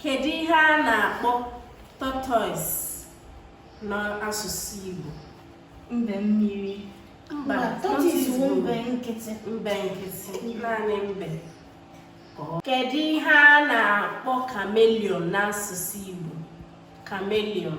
kedu ihe a na-akpọ tortoise n'asụsụ Igbo mbe mmiri mba tortoise bụ mbe nkịtị mbe nkịtị naanị mbe kedu ihe a na-akpọ chameleon n'asụsụ Igbo chameleon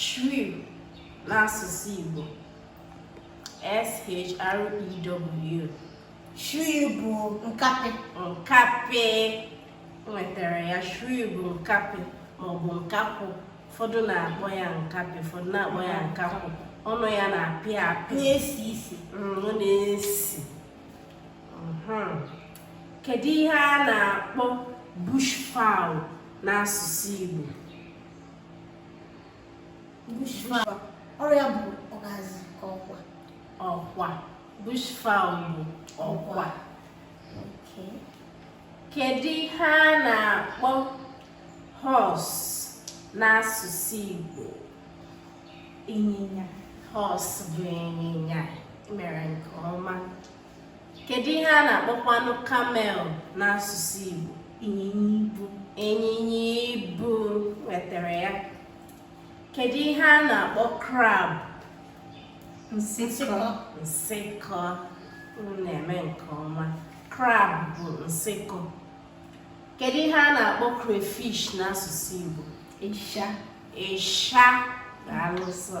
shrew n'asụsụ Igbo S-H-R-E-W shrew bụ nkapị nkapị nwetara ya shrew bụ nkapị maọbụ nkakwụ ụfọdụ na-akpọ ya nkapị ụfọdụ na-akpọ ya nkakwụ ọnụ ya na-apị apị na-esi isi mm, ọ na-esi kedu ihe a na-akpọ bush fowl n'asụsụ Igbo ọ ya bụ ọgazi ka ọkwa ọkwa bush fowl bụ ọkwa kedu ihe a na-akpọ horse n'asụsụ Igbo ịnyịnya horse bụ ịnyịnya mere nke ọma kedu ihe a na-akpọkwanụ camel n'asụsụ Igbo ịnyịnya ibu ịnyịnya ibu nwetara ya kedu ihe a na-akpọ crab nsịkọ nsịkọ unu na-eme nke ọma crab bụ nsịkọ kedu ihe a na-akpọ crayfish n'asụsụ Igbo ịsha ịsha na alụsọ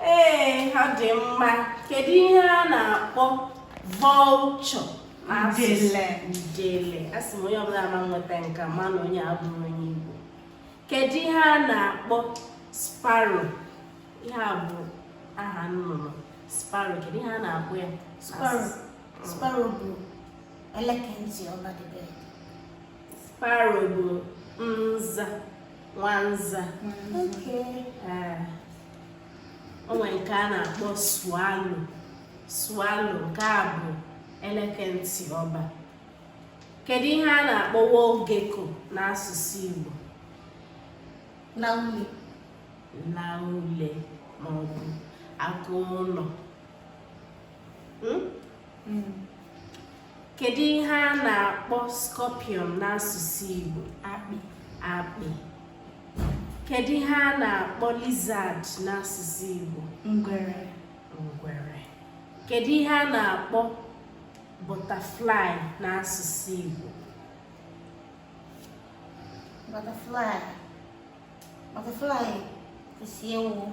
ee ọ dị mma kedu ihe a na-akpọ vulture udele asị m onye ọbụla ma nweta nke a ma na onye abụrọ onye Igbo kedu ihe a na-akpọ sparrow ihe a bụ aha nnụnụ sparrow kedu ihe a na-akpọ ya sparrow bụ eleke ntị ọba dịbe sparrow bụ nza nwanza okay. uh, o nwere nke a na-akpọ swallow swallow nke a bụ eleke ntị ọba kedu ihe a na-akpọ wall gecko n'asụsụ Igbo laule laule maọbụ agụ ụlọ hmm? Hmm. Kedu ihe a na-akpọ scorpion n'asụsụ Igbo? Akpị. Akpị. Kedu ihe a na-akpọ lizard n'asụsụ Igbo? Ngwere. Ngwere. Kedu ihe a na-akpọ butterfly n'asụsụ Igbo? Butterfly. Butterfly kwụsị ewu.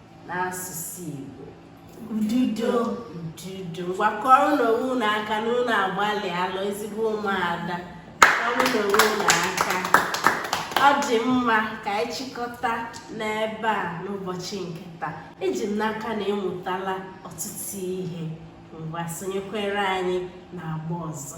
n'asụsụ Igbo ududo ududo ngwa kụọrọnụ onwe unu aka na unu agbalịala ezigbo ụmụaka kụọrọnụ onwe unu aka ọ dị mma ka anyị chịkọta n'ebe a n'ụbọchị nke taa eji m n'aka na ị mụtala ọtụtụ ihe ngwa sonyekwere anyị n'agba ọzọ